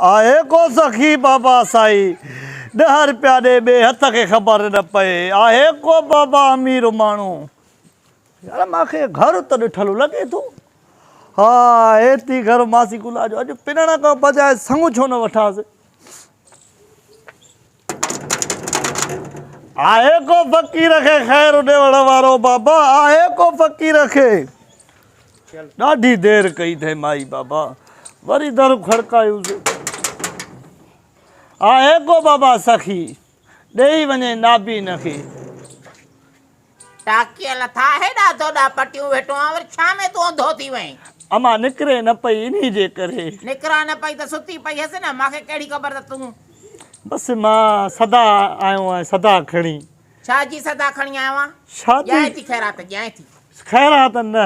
آهي ڪو سخي بابا سائي ڏهه رپيا ڏي ٻئي هٿ کي خبر نه پئي آهي ڪو بابا امير ماڻهو يار مان کي گهر ته ڏٺل لڳي ٿو ها اهي ٿي گهر ماسي گلا جو اڄ پنڻ کان بجاء سڱ ڇو نه وٺانس. آهي ڪو فقير کي خير ڏيوڻ وارو بابا آهي ڪو فقير کي ڏاڍي دير ڪئي اٿئي مائي بابا وري در کڙڪايو آهي ڪو بابا سخي ڏيئي وڃي نابين کي ٽاڪيء لٿا هيڏا دوڏا پٽيون ويٽون آن وري ڇا ۾ تون انڌو ٿي وئين؟ امان نڪري نه پئي انهي جي ڪري. نڪران نه پئي ته ستي پئي هئس نه مان کي ڪهڙي خبر ته تون. بس مان سدا آيو آهيان سدا کڻي. ڇا جي سدا کڻي آيو آهين؟ شادي. ڄائين ٿي خيرات ڄائين ٿي. خيرات نه.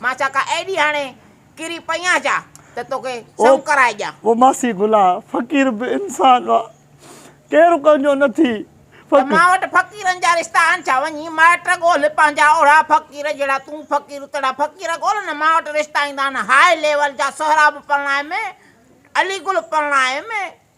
مان ڇا ڪا ايڏي هاڻي ڪري پئي آهيان ڇا ته توکي سم ڪرائي ڏيان. او ماسي گلا فقير به انسان آ ڪير ڪنهن جو نه ٿي فقير. ته مان وٽ فقيرن جا رشتا آهن ڇا وڃي مائٽ ڳولهه پنهنجا اوڙا فقير جهڙا تون فقير اتڙا فقير ڳولهه نه مان وٽ رشتا ايندا آهن هاء ليول جا سهراب پرڻايم علي گل پرڻايم.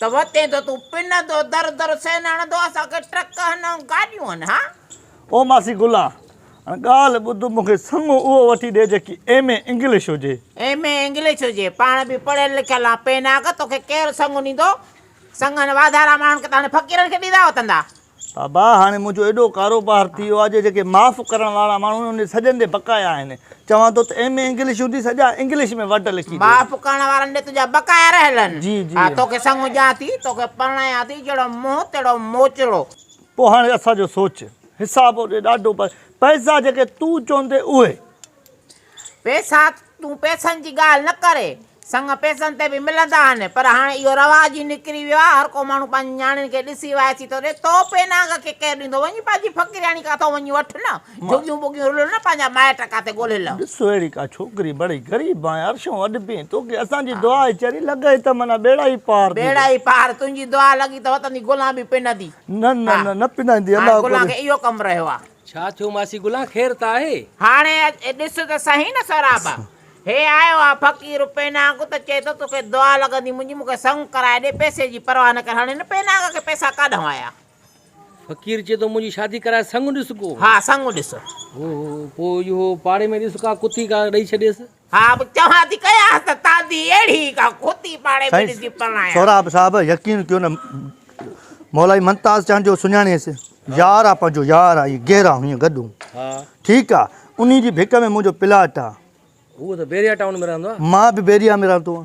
ته وتين ته تون پنندو در در سين هڻندو اسان کي ٽرڪ هن ۽ گاڏيون هن ها. او ماسي گلا هاڻ ڳالهه ٻڌ مون کي سڱو اهو وٺي ڏي جيڪي ايم اي انگلش هجي. ايم اي انگلش هجي پاڻ به پڙهيل لکيل آن پيناڪ توکي ڪير سڱو ڏيندو سڱن واڌارا ماڻهن کي ته هاڻي فقيرن کي ڏيندا وتندا. بابا هاڻي منهنجو ايڏو ڪاروبار ٿي ويو آهي جو جيڪي معاف ڪرڻ وارا ماڻهو آهن انهن سڄن جي بقايا آهن. چوان ٿو ته ايم اي انگلش هوندي سڄا انگلش ۾ ورڊ لکي ڏي. معاف ڪرڻ وارن ڏي تنهنجا بقايا رهيل آهن. جي جي. ها توکي سمجهان ٿي. توکي پرڻايان ٿي. جهڙو منهن تهڙو موچڙو. پوء هاڻي اسان جو سوچ. حساب اوڏي ڏاڍو پر پئسا جيڪي تون چوندين اهي. ويساک، تون پئسن جي ڳالهه نه ڪر. سڱ پئسن تي به ملندا آهن، پر هاڻي اهو رواج ئي نڪري ويو آهي. هر ڪو ماڻهو پنهنجي نياڻين کي ڏسي وائسي ٿو ڏئي. توحفي نانگ کي ڪير ڏيندو؟ وڃي پنهنجي فقيرياڻي ڪاٿو وڃي وٺ نه. جهڳيون ٻڳيون رلهه نه، پنهنجا مائٽ ڪاٿي ڳولهه نه. ڏس اهڙي ڪا ڇوڪري، بڙي غريب آهين، عرشون اڏبين، توکي اسان جي دعا ئي چري لڳئي ته معنيٰ ٻيڙا ئي پار ٿيندو. ٻيڙا ئي پار، تنهنجي دعا لڳي ته وتندي گلان به پنندي. نه نه نه، نه پنندي، الله ڪري. گلان کي اهو ڪم رهيو آهي. ڇا ٿيو ماسي گلان خير ته آهي. هاڻي اچ ڏس ته سهي نه سهراب. هي آيو آ فقير پيناگ ته چئي ٿو توکي دعا لڳندي منهنجي مونکي سڱ ڪرائي ڏي پئسي جي پرواهه نه ڪر هاڻي هن پيناگ کي پئسا ڪاڏهون آيا. فقير چئي ٿو منهنجي شادي ڪرائي سڱ ڏس ڪو. ها سڱ ڏس. هو هو پوء اهو پاڙي ۾ ڏس ڪا ڪتي ڪا ڏئي ڇڏيس. ها به چوان ٿي ڪياس ته تانجي اهڙي ئي ڪا کوتي پاڙي ۾ ڏسي پرڻايان. سهراب صاحب يقين ڪيو نه مولائي منتاز چانڊ جو سڃاڻيس يار آ پنهنجو يار آ اهي گهرا هيئن گڏون ٺيڪ آ انهي جي ڀڪ ۾ منهنجو پلاٽ آ هو ته بيريا ٽائون ۾ رهندو آ مان به بيريا ۾ رهندو آ.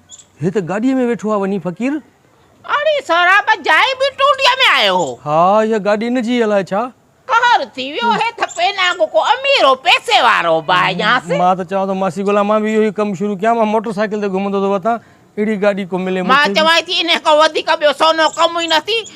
هي ته گاڏيء ۾ ويٺو آ وڃي فقير. اڙي سهراب جائي به ٽونڊيء ۾ آيو هو. ها اها گاڏي ان جي الائي ڇا. قهر ٿي ويو هي ته پين آنگو ڪو امير هو پئسي وارو به آهي ڄاس. مان ته چوان ٿو ماسي گلا مان به اهو ئي ڪم شروع ڪيان مان موٽر سائيڪل تي گهمندو ٿو وتان اهڙي گاڏي ڪو ملي مون کي به. مان چوانئي ٿي انهيء کان وڌيڪ ٻيو سونو ڪم ئي نه ٿي.